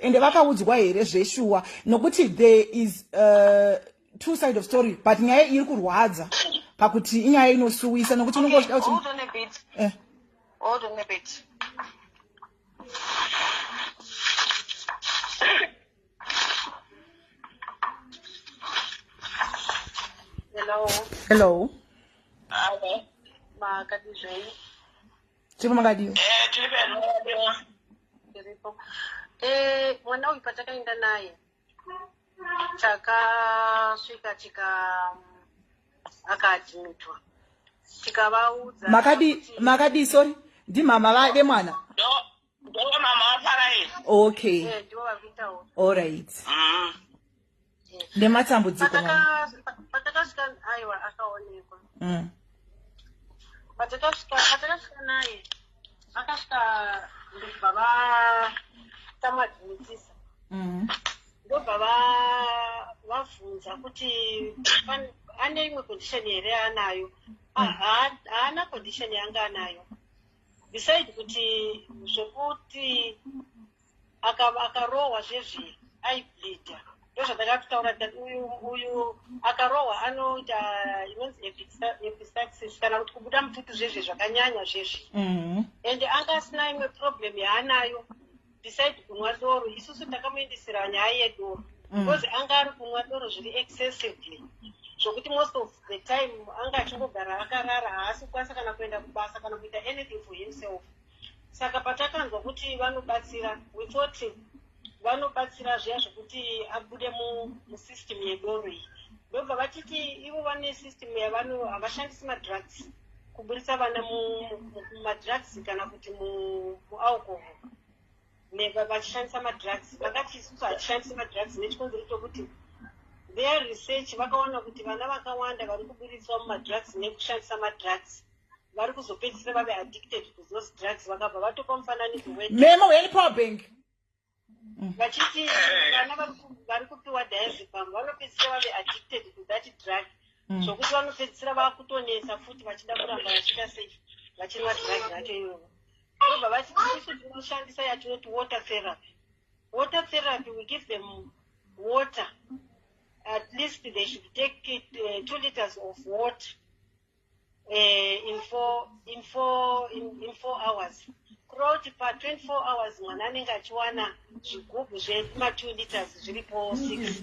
ende vakaudzwa here zveshuwa nokuti there is uh, two side of story but nyaya iri kurwadza pakuti inyaya inosuwisa nokuti unenge uchida kuti eh. hello hello makatizvei tiripo makadii eh, tiripo eh, mwana uyu patakaenda naye takasvika tika akaadmitwa tikavaudza makadii makadii sorry ndimama vade mwana ndomama vafarai okay eh, all right mm. nematambudziko patakasvika aiwa akaonekwa mm. patakasvika naye akasvika ndobva vatamadzimutisa mm. ndobva vavhunza kuti ane imwe condition here yaanayo mm. haana condition yanga anayo beside kuti zvekuti akarohwa aka zvezvi aibleeda ndozvandakatotaura tikati uyu uyu akarohwa anoita inonzi episaxis kana kuti kubuda mututu zvezvi zvakanyanya zvezvi mm-hmm. and anga asina imwe problem yaanayo besides kunwa doro isusu takamuendesera nyaya yedoro mm. because mm. anga ari kunwa doro zviri excessively zvokuti most of the time anga achingogara akarara haasi kukwanisa kana kuenda kubasa kana kuita anything for himself saka patakanzwa kuti vanobatsira we thought vanobatsira zviya zvekuti abude musystem yedoro iyi ndobva vatiti ivo vane system yavano havashandisi madrugs kuburitsa vana mumadrugs kana kuti mualcohol neva vachishandisa madrugs vakati isusu hatishandisi madrugs nechikonzero chokuti their research vakaona kuti vana vakawanda vari kuburitswa mumadrugs nekushandisa madrugs vari kuzopedzisira vave addicted to those drugs vakabva vatopa mufananidzo wememo welipower bank vachiti vana vari kupiwa diazepam vanopedzisira vave addicted to that drug mm. zvokuti vanopedzisira vakutonetsa futi vachida kuramba vachita sei vachinwa drug racho iyoyo ndobva vati tisu tinoshandisa yatinoti water therapy water therapy we give them water at least they should take it, uh, two liters of water eh, in four, in four, in, in four hours kureva kuti pa 24 hours mwana anenge achiwana zvigubhu zvema 2 liters zviripo 6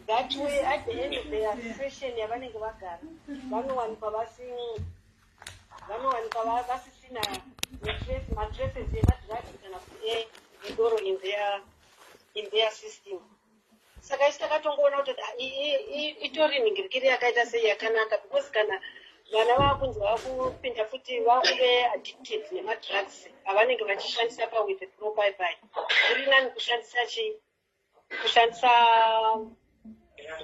that way at the end of their session yavanenge vagara vanowanikwa vasi vanowanikwa vasisina matraces emadrugs kana kuti edoro in their in their system saka isu takatongoona kuti itori nhingirikiri yakaita sei yakanaka because kana vana vakunzi vakupinda futi vakuve addicted nemadrugs avanenge vachishandisa pawithe pro baibai kuri nani kushandisa chi kushandisa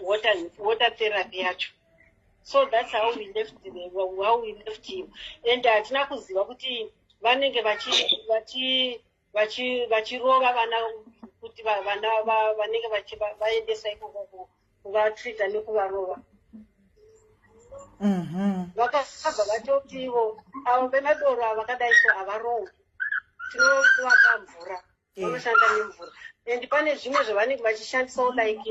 water, water therapy yacho so thats how we left how we left him and hatina kuziva kuti vanenge vachi vachirova vana kuti vana vanenge vaendesa ikoko kuvatreata nekuvarova mm-hmm. vakabva vatoti ivo avo vemadoro ava vakadai so havarowi tinovaka mvura eh. vanoshanda nemvura and pane zvimwe zvavanenge vachishandisawo like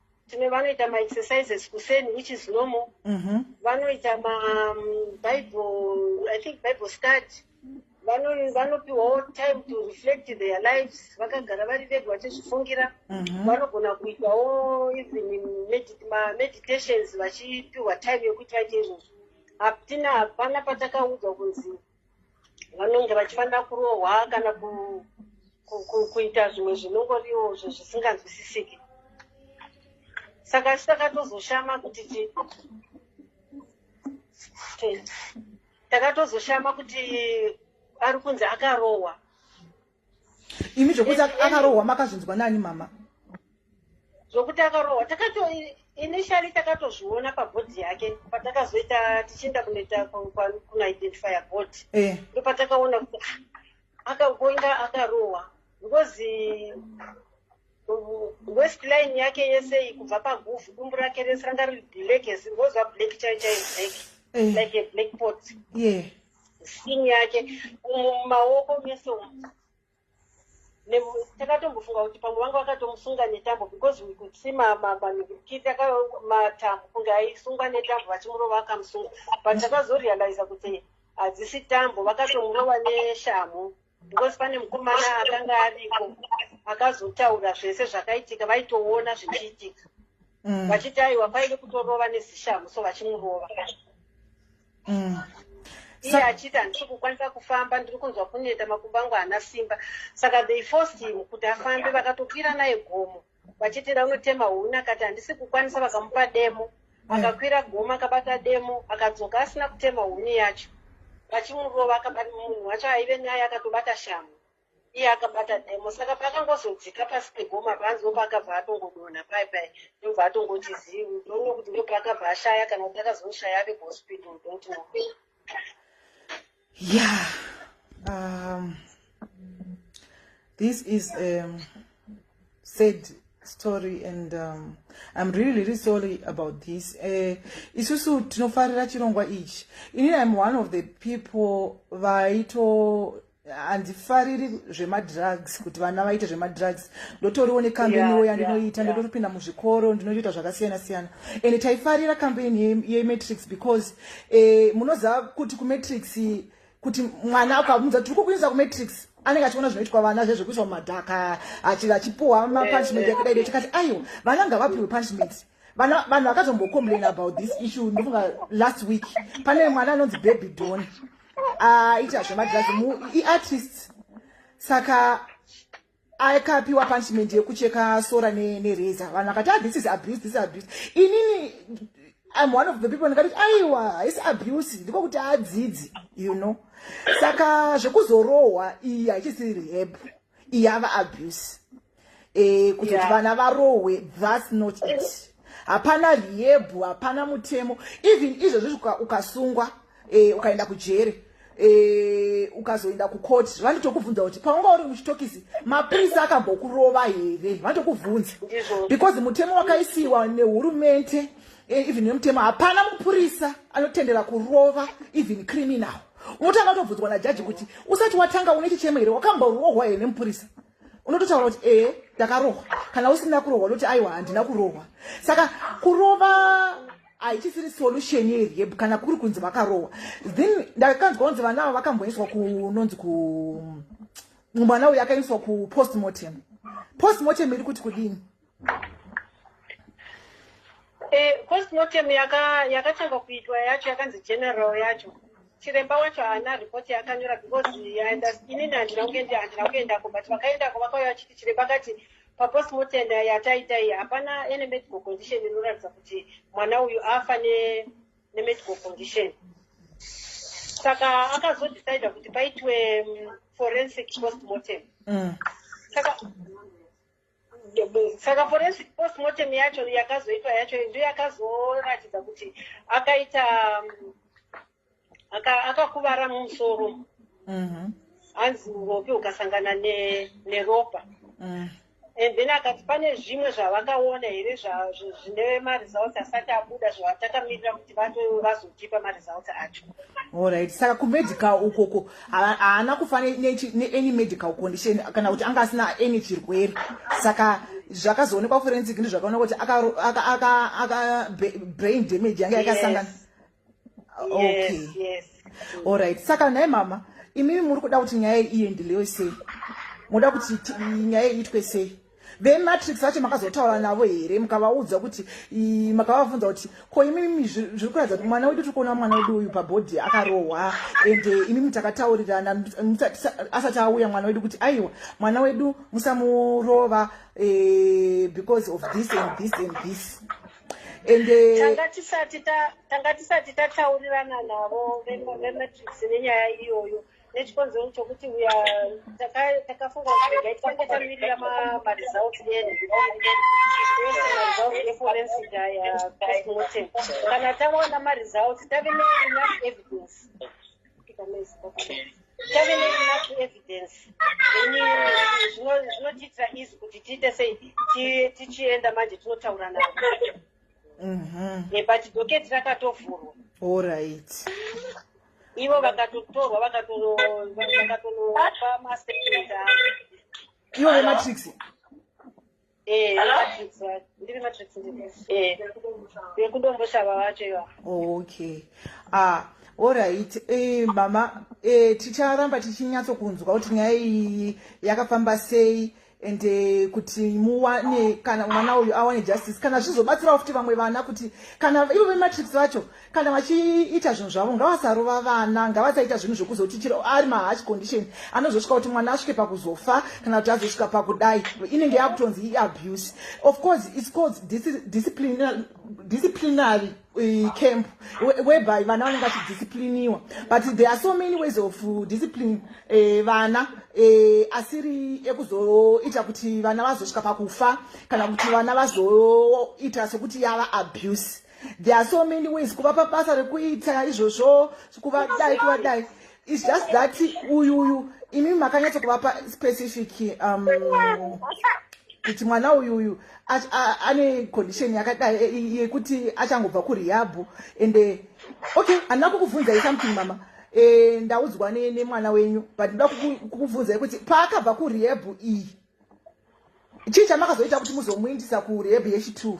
tine vanoita maexercises kuseni which is normal mm -hmm. vanoita mabible um, i think bible study vanopiwawo vano time to reflect their lives vakagara vari vega vachizvifungira mm -hmm. vanogona kuitawo even mameditations vachipiwa time yekuti vaite izvozvo hatina hapana patakaudzwa kunzi vanonge vachifanira kurohwa kana kuita zvimwe zvinongoriwo zvo zvisinganzwisisiki saka isu takatozoshama kuti takatozoshama kuti ari kunzi akarohwa imi zvokuti akarohwa makazvinzwa nani mama zvokuti akarohwa takato initially takatozviona pabhodhi yake patakazoita tichienda kunoita kunaidentifya bhodhi eh. ndo patakaona kuti ah, akagonga akarohwa because west line yake yese kubva paguvhu dumbu rake rese ranga riri black ngoziva black chai chai black eh. like a black pot yeah skin yake mumaoko mese umu takatombofunga kuti pamwe vanga vakatomusunga netambo because we could see manikiti matambo kunge aisungwa netambo vachimurova akamusunga but takazorealiza kuti hadzisi tambo vakatomurova neshamhu because pane mukomana akanga ariko akazotaura zvese zvakaitika vaitoona zvichiitika mm. vachiti aiwa paine kutorova nezishamu so vachimurova mm. iye achiti handisi kukwanisa kufamba ndiri kunzwa kuneta makumbo angu haana simba saka they forced him kuti afambe vakatokwira naye gomo vachiti ranotema huni akati handisi kukwanisa vakamupa demo akakwira goma akabata demo akadzoka asina kutema huni yacho vachimurova akabata munhu wacho aive naye akatobata shamhu iye akabata demo saka paakangozodzika pasi pegoma panzi opaakabva atongodonha pai pai ndobva atongoti zivi ndoona kuti ndopaakabva ashaya kana kuti akazoshaya ave kuhospital don't know yeah um, this is a um, sad story and um, i'm really really sorry about this uh, isusu tinofarira chirongwa ichi ini im one of the people vaito handifariri zvemadrugs kuti vana vaite zvemadrugs ndotoriwo nekambeniwo yandinoita ndotopinda muzvikoro ndinotoita zvakasiyana siyana and taifarira kambeni yematrix because eh, munoziva kuti kumatrix kuti mwana ukamudza tiri kukuinisa kumatrix anenge achiona zvinoitwa vana zve zvekuiswa mumadhaka achipuwa mapunishment eh, eh. yakadai tikati aiwa vana ngavapiwe punishment vanhu vakazombocomplain about this issue ndofunga last week pane mwana anonzi baby don aita ah, zvemagirazi iartist saka akapiwa punishment yekucheka sora nereza ne vanhu vakati ah, this is abuse this is abuse inini im one of the people ndikati aiwa haisi abuse ndiko kuti adzidzi you know saka zvekuzorohwa iyi haichisi rehab iyi yava abuse e, kuti yeah. vana varohwe thats not it hapana rehab hapana mutemo even izvozvo ukasungwa uka e, ukaenda kujeri e, ukazoenda kukoti vanotokubvunza kuti paunga uri muchitokisi mapurisa akambokurova here vanotokubvunza because mutemo wakaisiwa nehurumente e, even nemutemo hapana mupurisa anotendera kurova even criminal unotanga utobvunzwa najaji kuti usati watanga une chichemo here wakamborohwa here nemupurisa unototaura kuti ee eh, ndakarohwa kana usina kurohwa unoti aiwa handina kurohwa saka kurova haichisiri solution here kana kuri kunzi vakarohwa then ndakanzwa kunzi vana ava vakamboiswa kunonzi ku mwana uyu akaiswa kupostmortem postmortem iri kuti kudini Eh, postmortem yakatanga kuitwa yacho yakanzi general yacho chiremba wacho haana ripoti yakanyora because inini handina kuenda handina kuendako but vakaendako vakauya vachiti chiremba kati papostmortem yataita iyi hapana ene medical condition inoratidza kuti mwana uyu afa nemedical condition saka akazodecide kuti paitwe mm, forensic postmortem mm. saka saka forensic post mortem yacho yakazoitwa yacho ndo yakazoratidza kuti akaita um, akakuvara mumusoro mm-hmm. hanzi uropi ukasangana neropa mm. and then akati pane zvimwe zvavakaona here zvine maresults asati abuda zvatakamirira kuti vazotipa maresults acho orit saka kumedical ukoko haana kufa neany medical condition kana kuti anga asina any chirwere saka zvakazoonekwa kuforensic ndi zvakaona kuti akabrain damage yanga yakasangana okay allright saka nhai mama imimi muri kuda kuti nyaya iyi iendelewe sei moda kuti nyaya iitwe sei vematrix vacho makazotaura navo here mukavaudza kuti makavavunza kuti ko imimi zviri kuratidza kuti mwana wedu tiri kuona mwana wedu uyu pabhodhi akarohwa and eh, imimi takataurirana asati auya mwana wedu kuti aiwa mwana wedu musamurova eh, because of this and this and this and eh, tanga tisati tataurirana navo vematrix venyaya iyoyo nechikonzero chokuti uya takafunga kuti regai tifanike tamirira maresults edu ese maresults eforensic aya postmortem kana tawana maresults tave neenough evidence tave neenough evidence then zvinotiitira easy kuti tiite sei tichienda manje tinotaura navo mhm. eh, but doketi rakatovhurwa allright ivo vakatotorwa vakatonopa maseketa ivo vematrix vekundomboshava vacho iva okay ah orit eh, mama eh, ticharamba tichinyatsokunzwa kuti nyaya iyi yakafamba sei and eh, kuti muwane kana mwana uyu awane justice kana zvizobatsirawo futi vamwe vana kuti kana ivo vematrics vacho kana vachiita zvinhu zvavo ngavasarova vana ngavasaita zvinhu zvekuzoti chiro ari mahash condition anozosvika kuti mwana asvike pakuzofa kana kuti azosvika pakudai inenge yakutonzi iabuse of course its called disciplinary camp whereby vana vanenge vachidiscipliniwa but there are so many ways of uh, discipline eh, vana eh, asiri ekuzoita kuti vana vazosvika pakufa kana kuti vana vazoita sekuti yava abuse there are so many ways kuvapa basa rekuita izvozvo kuvadai kuvadai It's just that uyu uyu imi makanyatso kuvapa specific um kuti mwana uyu uyu ane condition yakadai yekuti achangobva kurehab and eh, okay handina kukubvunzai something mama eh, ndaudzwa nemwana wenyu but ndoda kukubvunzai kuti paakabva kurehab iyi chii chamakazoita kuti muzomuindisa kurehab yechitwo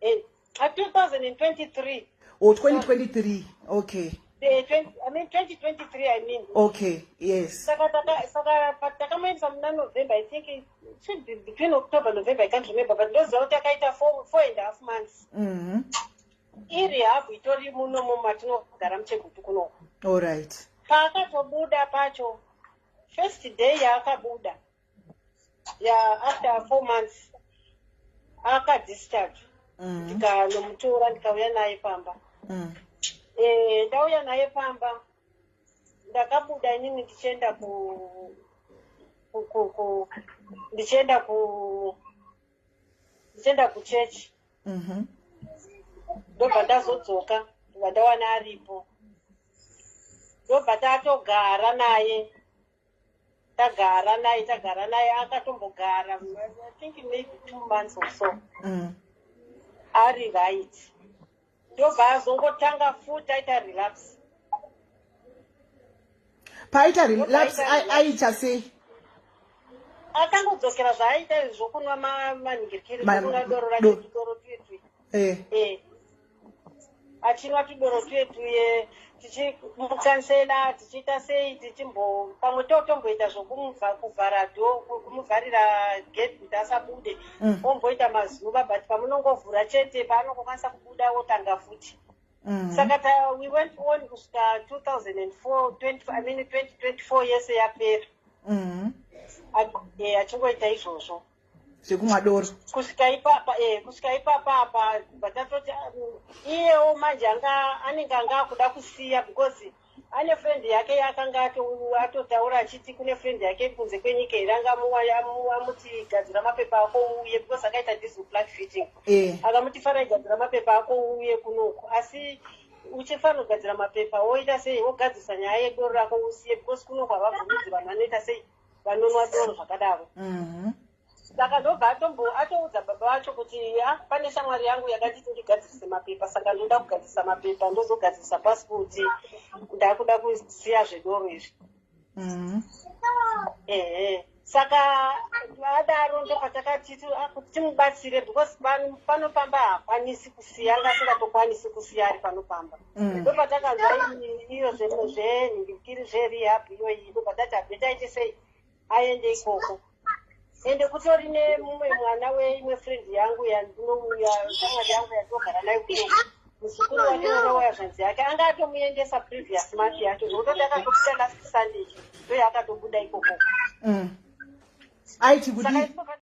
Eh, 2023. Oh, 2023. Okay. The 20, I mean 2023 I mean. Okay, yes. Saka taka saka takamuendesa muna November I think it should be between October November I can't remember but ndoziva kuti akaita four, four and a half months. Mhm. Mm iri habu itori muno mu matinogara muchegutu kuno. All right. Paakatobuda pacho first day yaakabuda ya after four months akadischarge mm. ndikanomutora ndikauya naye pamba mm. eh, ndauya naye pamba ndakabuda inini ndichienda ku ndichienda ku ndichienda kuchechi mhm. ndobva ndazodzoka ndobva ndawana aripo ndobva tatogara naye tagara naye tagara naye akatombogara i think maybe two months or so mm. ari right ndobva azongotanga futi aita relapse paita relapse aita sei akangodzokera zvaaita zvokunwa manhingirikiri kunwa doro rake doro tuitui eh. eh. achinwa tudoro twetuye tichimukansela tichiita sei tichimbo pamwe totomboita zvokuvhara do kumuvharira gate kuti asabude mm. omboita mazuva but pamunongovhura chete paanongokwanisa kubuda wotanga futi mm. saka ta we went on kusvika 2004 i mean 2024 yese yapera mm. achingoita izvozvo zvekumwa doro kusvika ipapa e eh, kusvika ipapa apa kubva tatoti uh, iyewo manje anga anenge anga akuda kusiya because ane friend yake yaakanga atotaura achiti kune friend yake iri kunze kwenyika here anga amuti gadzira mapepa ako uuye because akaita diesel black fitting eh. akamuti fara igadzira mapepa ako uuye kunoku asi uchifanira kugadzira mapepa woita sei wogadzisa nyaya yedoro rako usiye because kunoku havabvumidzi vanhu vanoita sei vanonwa doro zvakadaro mhm. saka ndobva atombo atoudza baba vacho kuti ya pane shamwari yangu yakanditi ndigadzirise mapepa saka ndoda kugadzirisa mapepa ndozogadzirisa pasipoti ndakuda kusiya zvedoro izvi mhm. ehe saka adaro ndopatakati ah, kuti timubatsire because panofamba hakwanisi kusiya ngasingatokwanisi kusiya ari panofamba Mm. ndo patakazwa iyo zvinhu zvenhindikiri zverehab iyoyi ndo patati abve taiti sei aende ikoko ende kutori nemumwe mwana weimwe friend yangu yandinouya shamwari yangu yatogara nayo kuno muzukuru wake mwana waya zvanzi yake anga atomuendesa previous month yacho zvokuto ndakatobuda last sunday ndoyaakatobuda ikoko mm. aiti kudii